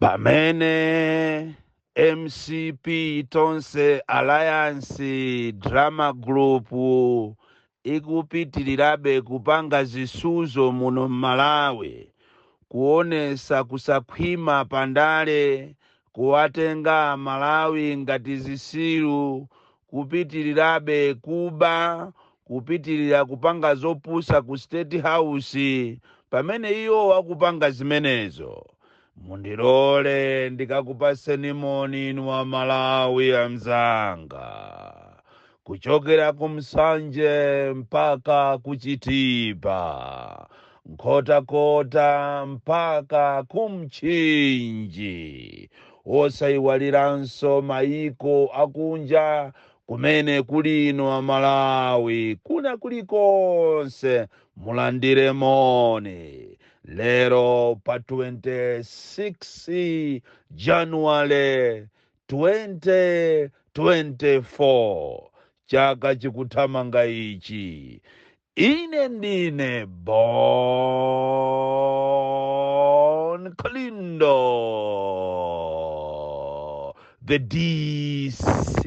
pamene mcp tonse alliance drama group ikupitirirabe kupanga zisuzo muno m'malawi kuonesa kusakhwima pandale kuwatenga amalawi ngati zisiru kupitilirabe kuba kupitilira kupanga zopusa ku state house pamene iwo akupanga zimenezo mundilole ndikakupaseni moni inu amalawi amzanga kuchokera ku nsanje mpaka ku chitipa nkhotakota mpaka ku mchinji osayiwaliranso mayiko akunja kumene kuli inu amalawi kuna kulikonse mulandire moni lero pa 26 januwale 2024 chaka chikuthamanga ichi ine ndine bon kalindo the dc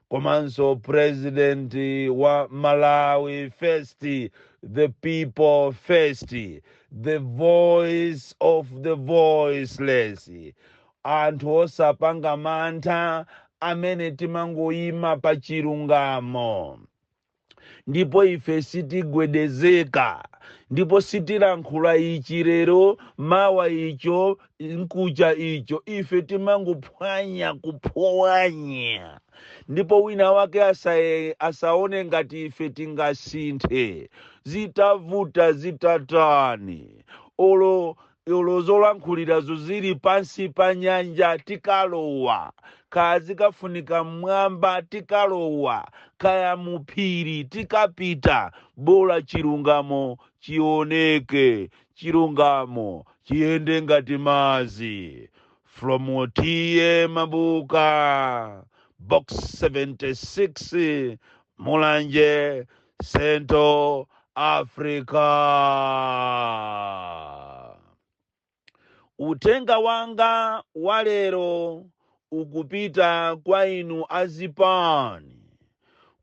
komanso president wa malawi first the people first the voice of the voiceless anthu osapanga mantha amene timangoyima pa chilungamo Ndipo ife sitigwedezeka, ndipo sitilankhula ichi lero, mawa icho, mkuja icho. Ife timangophwanya, kuphwanya. Ndipo wina wake asaye, asaone ngati ife tingasinthe, zitavuta zitatani. Olo olo zolankhulirazo zili pansi pa nyanja tikalowa kaya zikafunika mmwamba tikalowa kaya muphiri tikapita bola chilungamo chioneke chilungamo chiyende ngati madzi from otiye mabuka box 76 mulanje Central Africa. Uthenga wanga wa lero ukupita kwa inu azipani,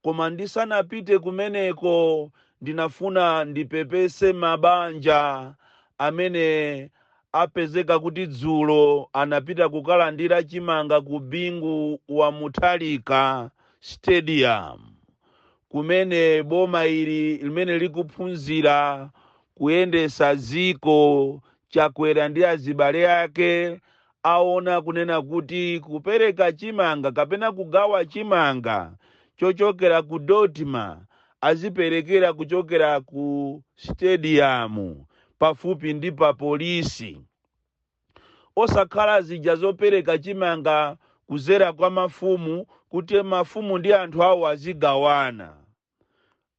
koma ndisanapite kumeneko ndinafuna ndipepese mabanja amene apezeka kuti dzulo anapita kukalandira chimanga ku Bingu wa Mutharika Stadium kumene boma ili limene likuphunzira kuyendesa dziko chakwera ndi azibale ake aona kunena kuti kupereka chimanga kapena kugawa chimanga chochokera ku DoDMA aziperekera kuchokera ku stadium pafupi ndi pa polisi Osakhala zija zopereka chimanga kuzera kwa mafumu kuti mafumu ndi anthu awo azigawana.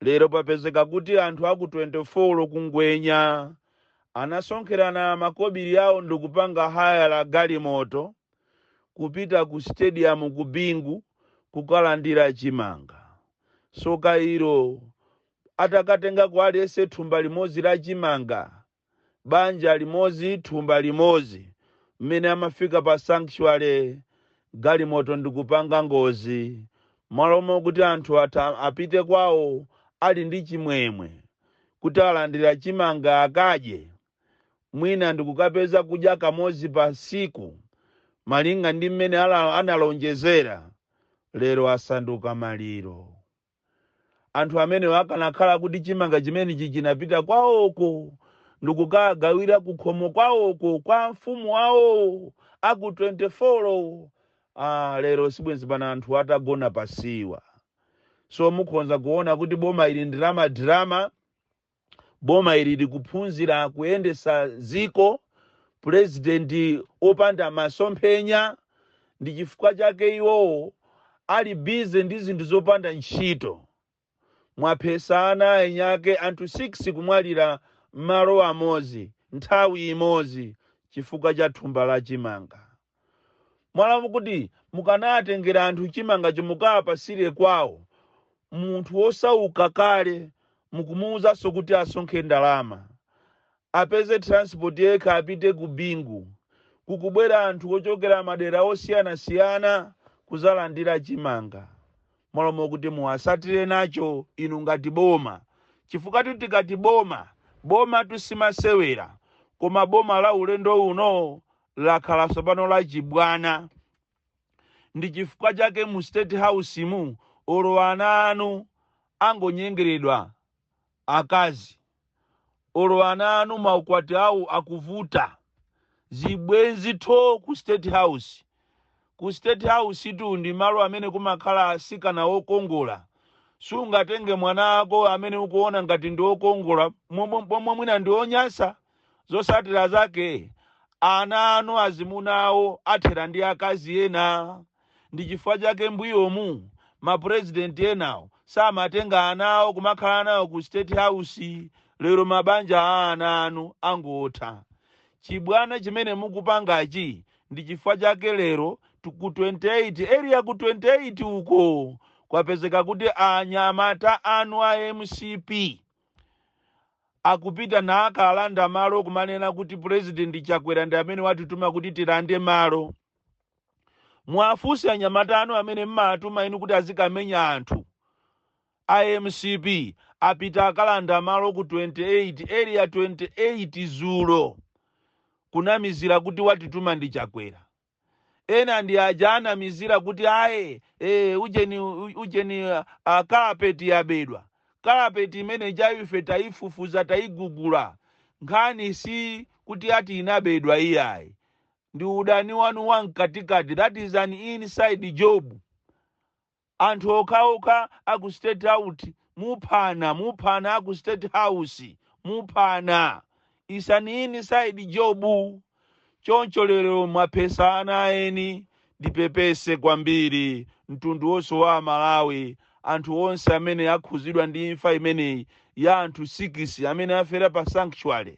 Lero papezeka kuti anthu aku 24 ku Ngwenya anasonkherana makobiri awo ndikupanga hayala galimoto kupita ku stadium ku Bingu kukalandira chimanga. Tsoka ilo, atakatengako aliyense thumba limodzi la chimanga. banja limodzi thumba limodzi mmene amafika pa sanctuary galimoto ndikupanga ngozi mmalo mokuti anthu apite kwawo ali ndi chimwemwe kuti alandira chimanga akadye mwina ndikukapeza kudya kamodzi pa tsiku malinga ndi mmene ala- analonjezera lero asanduka maliro Anthu amenewo akanakhala kuti chimanga chimenechi chinapita kwawoko ndikukagawira kukhomo kwawoko kwa amfumu awowo a ku 24 wo, aah, lero sibwenzi pano anthuwa atagona pa siwa. So mukhonza kuona kuti boma ili ndi la ma drama. boma ili likuphunzira kuyendesa ziko president opanda masomphenya ndichifukwa chake iwowo ali busy ndi zinthu zopanda ntchito mwaphesa ana a eni ake anthu 6 kumwalira malo amozi nthawi imozi chifukwa cha thumba la chimanga mmalo mokuti mukanawatengera anthu chimanga cho mukawapasire kwawo munthu wosauka kale mukumuuzanso kuti asonkhe ndalama apeze transport yekha apite ku bingu kukubwera anthu ochokera madera osiyanasiyana kuzalandira chimanga mmalo mokuti muwasatire nacho inu ngati boma chifukwa tu tikati boma boma tu simasewera koma boma la ulendo uno lakhala tsopano lachibwana ndi chifukwa chake mu state house mu olo ana anu angonyengeredwa akazi olo ana anu maukwati awo akuvuta zibwenzi tho ku state house Ku state house tu ndi malo amene kumakhala asikana okongola. Sungatenge mwana ako amene ukuona ngati ndi okongola momwe pomwe mwina ndi onyasa. Zotsatira zake ana anu azimuna awo athela ndi akazi ena. Ndi chifukwa chake mbuyomu ma president enawo samatenga ana awo kumakhala nawo ku state house. Lero mabanja a ana anu angotha. Chibwana chimene mukupangachi ndi chifukwa chake lero tu- ku 28 area ku 28 uko kwapezeka kuti anyamata anu a mcp akupita nakalanda malo kumanena kuti purezidenti chakwera ndi amene watituma kuti tilande malo muwafunse anyamata anu amene mmatuma inu kuti azikamenya anthu A mcp apita akalanda malo ku 28 area 28 dzulo kunamizira kuti watituma ndi chakwera ena ndi aja anamizira kuti aye ee ujeni ujeni uh, kalapeti yabedwa kalapeti imene ija ife taifufuza taigugula nkhani si kuti ati inabedwa iyayi ndi udani wanu wa mkatikati that is an inside job Anthu okhaokha aku state out muphana muphana aku state house muphana is an inside job choncho lero mwaphetsa ana aeni ndipepese kwambiri mtundu wonse wa amalawi anthu onse amene akhuzidwa ndi imfa imeneyi ya anthu sikisi amene afera pa sanctuary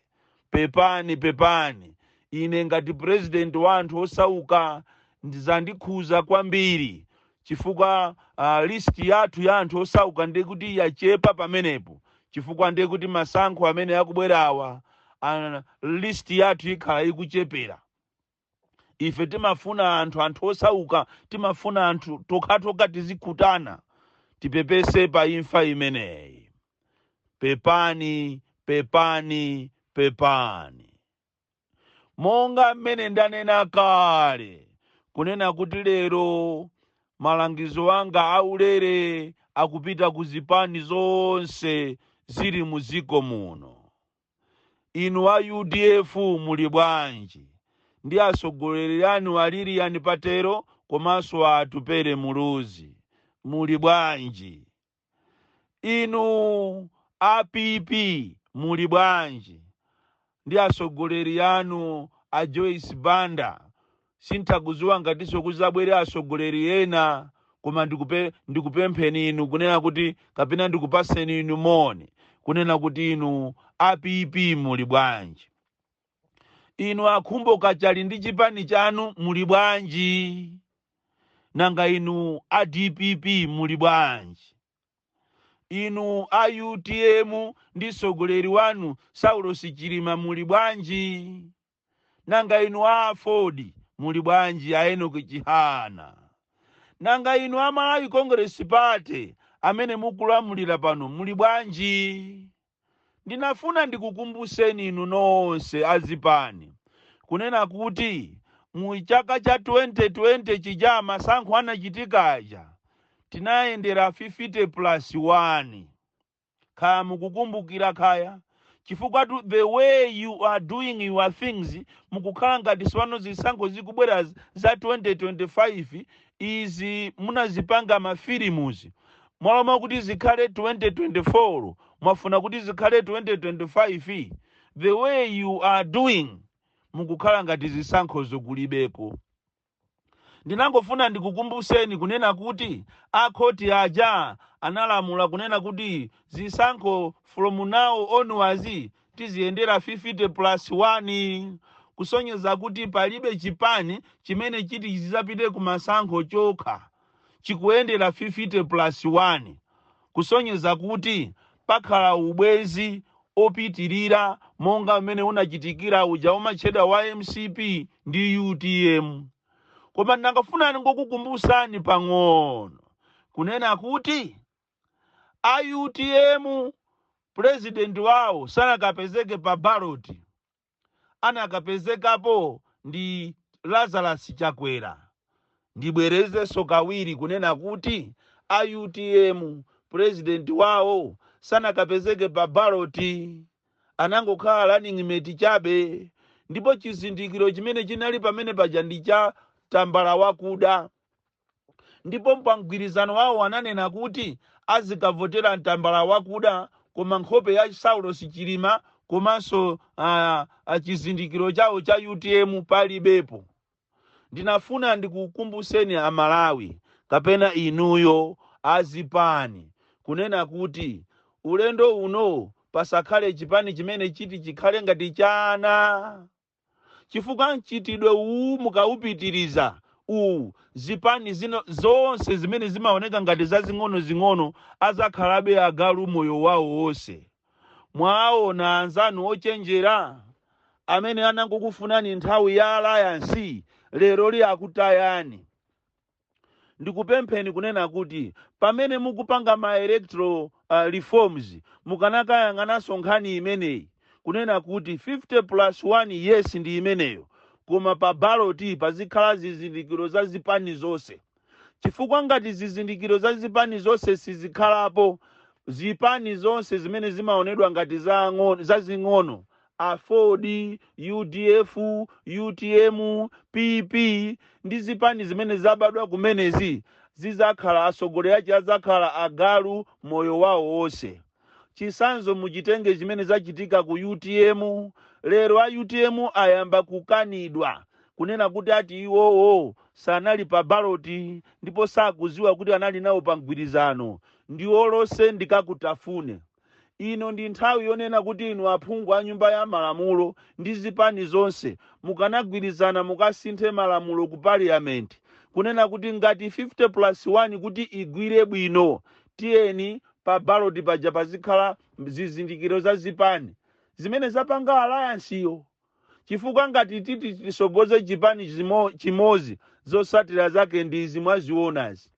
pepani pepani ine ngati president wa anthu osauka ndizandikhuza kwambiri chifukwa uh, list yathu ya anthu osauka ndiye kuti yachepa pamenepo chifukwa ndiye kuti masankho amene akubwerawa uh, list yathu ikhala ikuchepera ife timafuna anthu anthu osauka timafuna anthu tokhatokha tizikutana tipepese pa imfa imeneyi pepani pepani pepani monga mmene ndanena kale kunena kuti lero malangizo anga aulere akupita ku zipani zonse zili mu dziko muno Inu a UDF muli bwanji ndi atsogoleri anu a Lilian Patel komanso a Atupele Muluzi? Muli bwanji? Inu a PP muli bwanji ndi atsogoleri anu a Joyce Banda Sinthakuziwa ngatinso kuzabwere asogoleri ena koma ndikupempheni inu kunena kuti kapena ndikupaseni inu moni kunena kuti inu a PP muli bwanji. Inu akhumbo kachali ndi chipani chanu muli bwanji. Nanga inu a dpp muli bwanji. Inu a utm ndi sogoleri wanu Saulosi Chilima muli bwanji. nanga inu a aford muli bwanji a enoki chihana nanga inu a malawi congress party amene mukulamulira pano muli bwanji ndinafuna ndikukumbuseni inu nonse azipani kunena kuti mu chaka cha 2020 chija masankho anachitika aja tinayendera 50 plus 1 kaya mukukumbukira kaya chifukwatu the way you are doing your things mukukhala ngati sipano zisankho zikubwera z- za 2025 izi munazipanga mafilimuzi mwaloma kuti zikhale 2024 mwafuna kuti zikhale 2025 the way you are doing mukukhala ngati zisankhozo kulibeko ndinangofuna ndikukumbuseni kunena kuti akhoti aja analamula kunena kuti zisankho from now onwards tiziyendera 50 plus 1 kusonyeza kuti palibe chipani chimene chiti chidzapite kumasankho chokha chikuyendera 50 plus 1 kusonyeza kuti pakhala ubwenzi opitilira monga umene unachitikira uja umatchedwa wa mcp ndi utm. Koma ndangofuna ndingokukumbusani pang'ono kunena kuti a utm president wawo sanakapezeke pa ballot. anakapezekapo ndi Lazarus Chakwera. Ndibwerezenso kawiri kunena kuti a utm president wawo sanakapezeke pa ballot, anangokhala running mate chabe ndipo chizindikiro chimene chinali pamene paja ndi cha tambala wakuda. Ndipo pa mgwirizano wawo ananena kuti azikavotera tambala wakuda koma nkhope ya Saulos Chilima komanso a, a chizindikiro chawo cha utm palibepo. Ndinafuna ndikukumbuseni a Malawi kapena inuyo azipani kunena kuti ulendo uno pasakhale chipani chimene chiti chikhale ngati chana. chifukwa mchitidwe uwu mukaupitiriza uwu zipani zino zonse zimene zimaoneka ngati zazing'onozing'ono azakhalabe agalu moyo wawo wonse mwaona anzanu ochenjera amene anangokufunani nthawi ya alliance lero li akutayani ndikupempheni kunena kuti pamene mukupanga ma electoral uh, reforms mukanakayang'ananso nkhani imeneyi kunena kuti 50 plus 1 yes ndi imeneyo koma pa baloti pazikhala zizindikiro za zipani zonse chifukwa ngati zizindikiro za zipani zonse sizikhalapo zipani zonse zimene zimaonedwa ngati zazing'ono- zazing'ono Aford, udf, utm, PP ndi zipani zimene zabadwa kumenezi zizakhala atsogoleri ache adzakhala agalu moyo wao wonse. Chitsanzo muchitenge chimene zachitika ku utm. Lero a utm ayamba kukanidwa kunena kuti ati iwowo sanali pa ballot ndipo sakudziwa kuti anali nawo pa mgwirizano. Ndiwolotsa ndikakutafune. Ino ndi nthawi yonena kuti inu aphungu a nyumba ya malamulo ndi zipani zonse mukanagwirizana mukasinthe malamulo ku parliament kunena kuti ngati 50 plus 1 kuti igwire bwino tiyeni pa ballot paja pazikhala zizindikiro za zipani zimene zapanga alliance yo chifukwa ngati titi tisogoze chipani chimo- chimozi zosatira zake ndi izi mwazionazi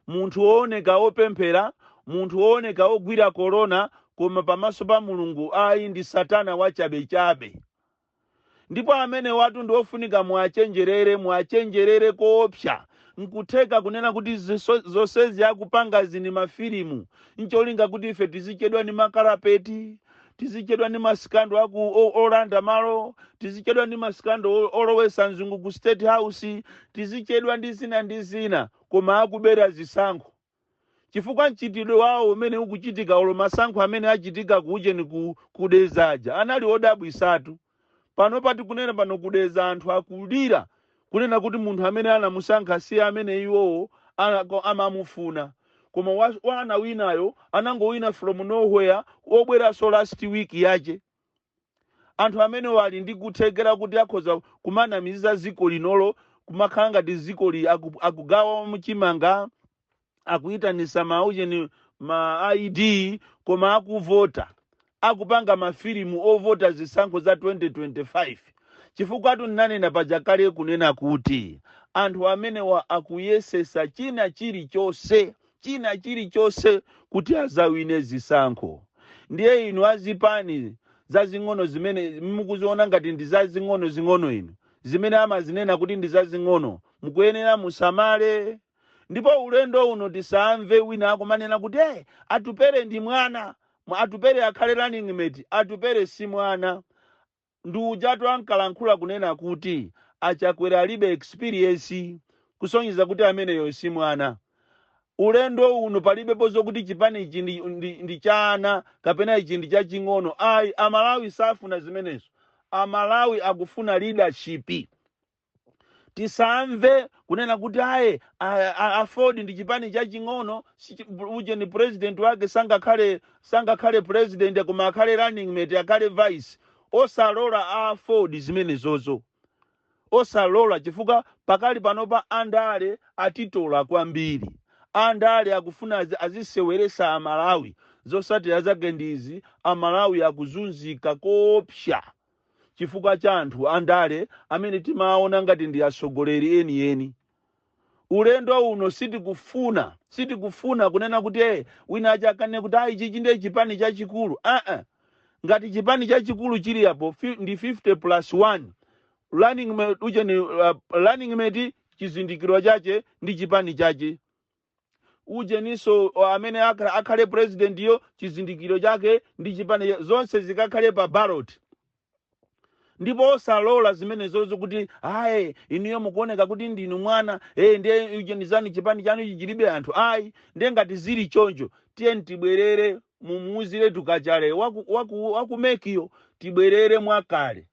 munthu wooneka wopemphera munthu wooneka wogwira korona koma pamaso pa mulungu ayi ndi satana wachabechabe ndipo amenewatu ndi ofunika muachenjerere muachenjerere koopsa nkutheka kunena kuti ziso- zonsezi akupangazi ndi mafilimu ncholinga kuti ife tizichedwa ndi makalapeti tizichedwa ndi masikando akuo- olanda malo tizichedwa ndi masikando o- olowesa mzungu ku state house tizichedwa ndi zina ndi zina koma akubera zisankho chifukwa mchitidwe wawo umene ukuchitika olo masankho amene achitika kuujeni ku, ku Deza-ja anali odabwisatu pano pa tikunena pano ku Deza anthu akulira kunena kuti munthu amene anamusankha si amene iwowo ana- ko- amamufuna koma wa- wawinayo anangowina from nowhere obweranso last week yache anthu amenewo ali ndi kuthekera kuti akhoza kumanamiza dziko linolo kumakhala ngati dzikoli aku- akugawa chimanga akuitanisa maujeni ma id koma akuvota akupanga mafilimu ovota zisankho za 2025 chifukwa tunanena paja kale kunena kuti anthu amenewa akuyesesa china chilichonse china chilichonse kuti azawine zisankho ndiye inu azipani zazing'ono zimene mukuziona ngati ndi zazing'ono zing'ono inu zimene amazinena kuti ndi zazing'ono mukuyenera musamale ndipo ulendo uno tisamve wina akumanena kuti hey, atupere ndi mwana Mwa- atupere akhale running mate atupere si mwana ndi ujatu ankalankhula kunena kuti achakwera alibe experience kusonyeza kuti ameneyo si mwana ulendo uno palibepo zokuti chipani ichi ndi, ndi, ndi cha ana kapena ichi ndi chaching'ono ayi amalawi safuna zimenezo amalawi akufuna leadership tisamve kunena kuti aye a- a- aford ndi chipani chaching'ono sichi- ujeni president wake sangakhale sangakhale president koma akhale running mate akhale vice osalola a aford zimenezozo osalola chifukwa pakali panopa andale atitola kwambiri andale akufuna azi- aziseweresa amalawi zosatira zake ndizi amalawi akuzunzika koopsa chifukwa cha anthu andale amene timaona ngati ndi atsogoleri enieni. Ulendo uno sitikufuna sitikufuna kunena kuti eh, wina adzakanene kuti ayi chichi ndiye chipani chachikulu aa ngati chipani chachikulu chili apo fi- ndi 50 plus 1 running mate ujeni uh, running mate chizindikiro chache ndi chipani chache ujeniso o, amene akha- akhale purezidentiyo chizindikiro chake ndi chipani cha- zonse zikakhale pa ballot ndipo osalola zimenezozo kuti ayi inuyo mukuoneka kuti ndinu mwana e ndiye ujenizani chipani chanu ichi chilibe anthu ayi ndiye ngati zili choncho tiyeni tibwerere mumuuziretu Kachale waku, waku, waku MEC yo tibwerere mwakale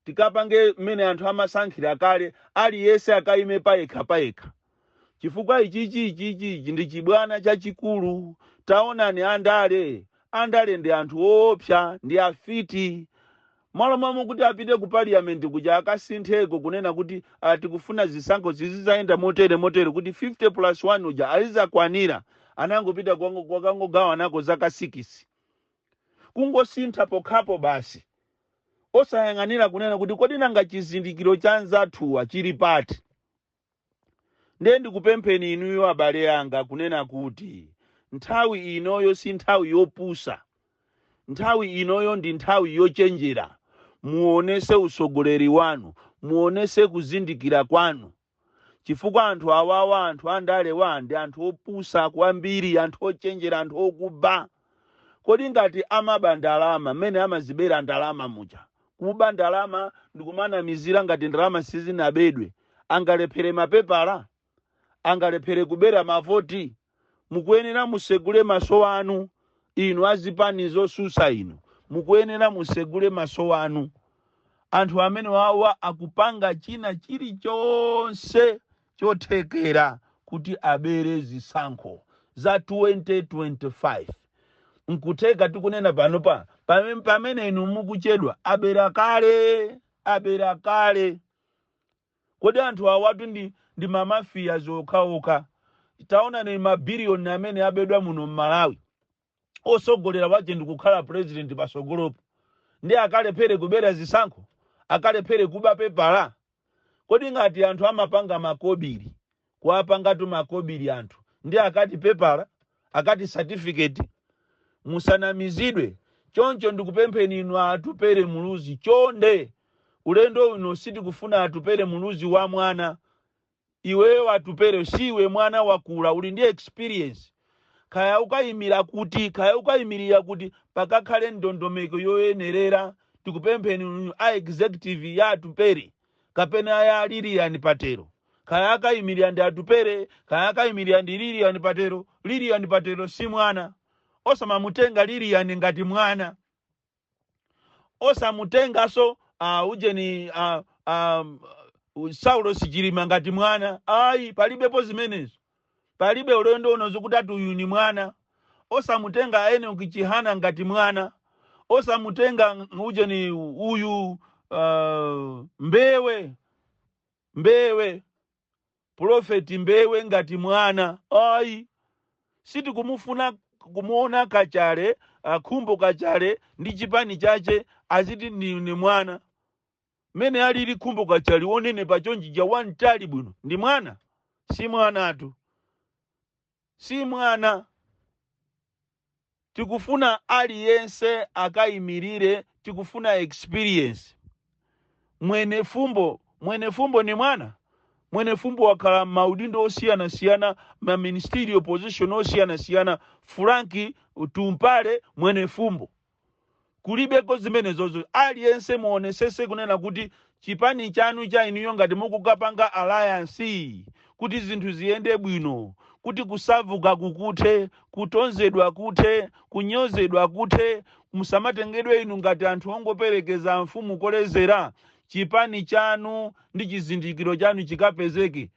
tikapange mmene anthu amasankhira kale aliyese akayime payekha payekha chifukwa ichichi ichichi ichi ndi chibwana chachikulu taonani andale andale ndi anthu oopsa ndi afiti malo momwe kuti apite ku parliament kuja akasintheko kunena kuti ah, tikufuna zisankho zizizayenda motere motere kuti 50 plus 1 uja izakwanira anangopita kwango- kukangogawanako zaka 6 kungosintha pokhapo basi osayang'anira kunena kuti kodi nanga chizindikiro cha anzathuwa chili pati ndiye ndikupempheni inuyo abale anga kunena kuti nthawi inoyo si nthawi yopusa nthawi inoyo ndi nthawi yochenjera muonese usogoleri wanu muonese kuzindikira kwanu chifukwa anthu awawa anthu andalewa ndi anthu opusa kwambiri anthu ochenjera anthu okuba kodi ngati amaba ndalama mmene amazibera ndalama muja kuba ndalama ndikumanamizira ngati ndalama sizinabedwe angalephere mapepala angalephere kubera mavoti mukuyenera musegule maso anu inu azipani zosusa inu mukuyenera musegule maso anu anthu amene wawa akupanga china chilichonse chothekera kuti abere zisankho za 2025 nkutheka tikunena panopa pame- pamene inu mukuchedwa abera kale abera kale Kodi anthu awatu ndi ndi ma mafias okhaokha. Taonani ma billion amene abedwa muno mmalawi. Osogolera wache ndikukhala president pasogolopo. Nde akalephere kubera zisankho? Akalephere kuba pepala? Kodi ngati anthu amapanga makobiri kuwapangatu makobiri anthu nde akati pepala akati certificate musanamizidwe choncho ndikupempheni inu a atupele muluzi chonde ulendo uno sitikufuna atupele muluzi wa mwana iweyo atupele siwe mwana wakula uli ndi experience kaya ukayimira kuti kaya ukayimirira kuti pakakhale ndondomeko yoyenerera tikupempheni inu a executive ya atupele kapena ya Lillian Patel, kaya akayimirira ndi Atupele, kaya akayimirira ndi Lillian Patel, Lillian Patel si mwana. Osamamutenga Lillian ngati mwana. Osamutenganso uh, ujeni uh, um, Saulos Chilima ngati mwana. Ayi, palibepo zimenezo. Palibe ulendo uno zokuti ati uyu ni mwana. Osamutenga Enoch Chihana ngati mwana. Osamutenga ng- uje ni uyu uh, Mbewe Mbewe Prophet Mbewe ngati mwana. Ayi. siti kumufuna kumuona kachale akhumbo kachale ndi chipani chache aziti ni, ni mwana Mmene alili Khumbo Kachali wonenepa chonchija wamtali bwino ndi mwana? Si mwanatu. Si mwana. Tikufuna aliyense akaimilire tikufuna experience. Mwenefumbo, Mwenefumbo ndi mwana? Mwenefumbo wakhala mmaudindo osiyanasiyana ma ministerial position osiyanasiyana Frank Tumpale Mwenefumbo. kulibeko zimenezozo aliyense muonesese kunena kuti chipani chanu cha inuyo ngati mukukapanga alliance kuti zinthu ziyende bwino kuti kusavuka kukuthe kutonzedwa kuthe kunyozedwa kuthe musamatengedwe inu ngati anthu ongoperekeza mfumu kolezera chipani chanu ndi chizindikiro chanu chikapezeke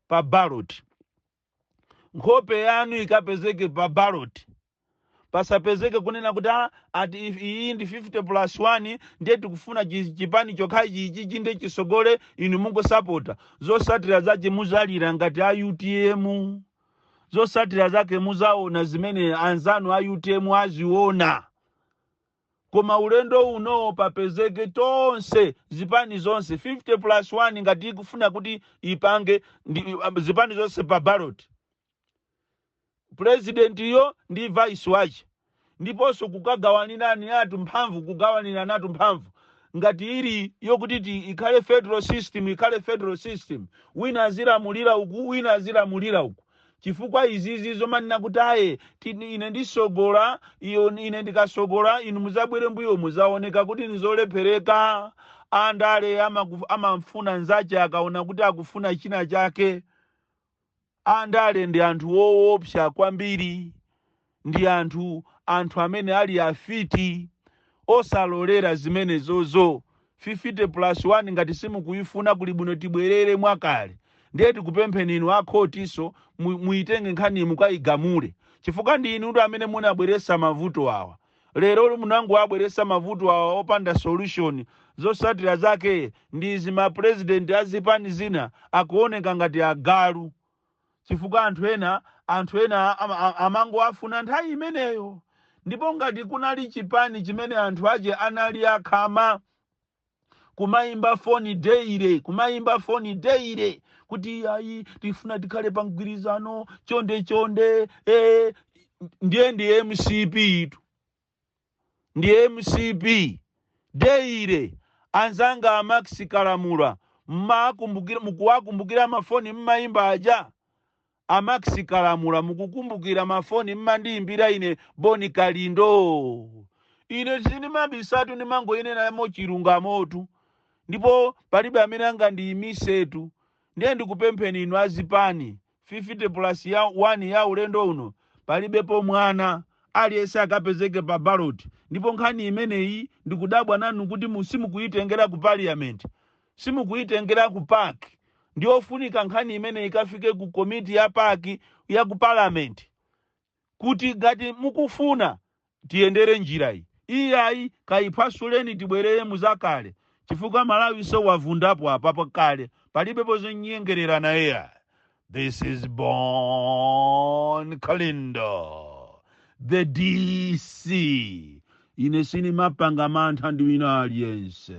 pa ballot nkhope yanu ikapezeke pa ballot pasapezeke kunena kuti "Ah, ati if- iyi ndi 50 plus 1 ndiye tikufuna chi- chipani chokhachi ichi chi- nde chisogole inu mungosapota zosatira zache muzalira ngati a utm zosatira zake muzaona zimene anzanu a utm aziona koma ulendo uno papezeke tonse zipani zonse 50 plus 1 ngati ikufuna kuti ipange zipani zonse pa ballot purezidentiyo ndi vice wace ndiponso kukagawanirani atu mphamvu kugawanirana atu mphamvu ngati ili yokuti ti ikhale federal system ikhale federal system wina azilamulira uku wina azilamulira uku Chifukwa izizi zomanena kuti ayi, ine ndisogola, iyo, ine ndikasogola, inu muzabwere mbuyomu, zaoneka kuti nzolephereka. Andale amamfuna nzache akaona kuti akufuna china chake. Andale ndi anthu woopsa kwambiri. Ndi anthu, amene ali afiti, osalolera zimenezozo. 50 plus 1 ngati simukuifuna kuli bwino tibwerere mwakale. Ndiye tikupempheni inu a khotinso muitenge nkhaniyi mukaigamule. Chifukwa ndi inutu amene munabweretsa mavuto awa. Lero munangowabweretsa mavuto awa opanda solution. Zotsatira zake ndi izi mapulezidenti a zipani zina akuoneka ngati agalu. chifukwa anthu ena anthu ena amangowafuna nthawi imeneyo ndipo ngati kunali chipani chimene anthu ache anali akhama kumayimba foni daily kumayimba foni daily kuti ayi tifuna tikhale pa mgwirizano chonde chonde eh, ndiye ndi mcp-itu ndi mcp daily anzanga a max kalamula mmakumbukira mukuwakumbukira mafoni mmayimba aja a max kalamula mukukumbukira mafoni mmandiyimbira ine bon kalindo ine sindimabisatu ndimangoyinenamo chilungamotu ndipo palibe amene angandiyimisetu ndiye ndikupempheni inu azipani 50 plus 1 ya ulendo uno palibepo mwana aliyense akapezeke pa ballot ndipo nkhani imeneyi ndikudabwa nanu kuti simukuyitengera ku parliament simukuyitengera ku pac ndiyofunika nkhani imeneyi ikafike ku komiti ya pac ya ku parliament kuti ngati mukufuna tiyendere njirayi iyayi kayiphasuleni tibwerere muzakale chifukwa malawiso wavundapo apapa kale palibepo zonyengerera naye ayi. this is bon kalindo the dc ine sinimapanga mantha ndi wina aliyense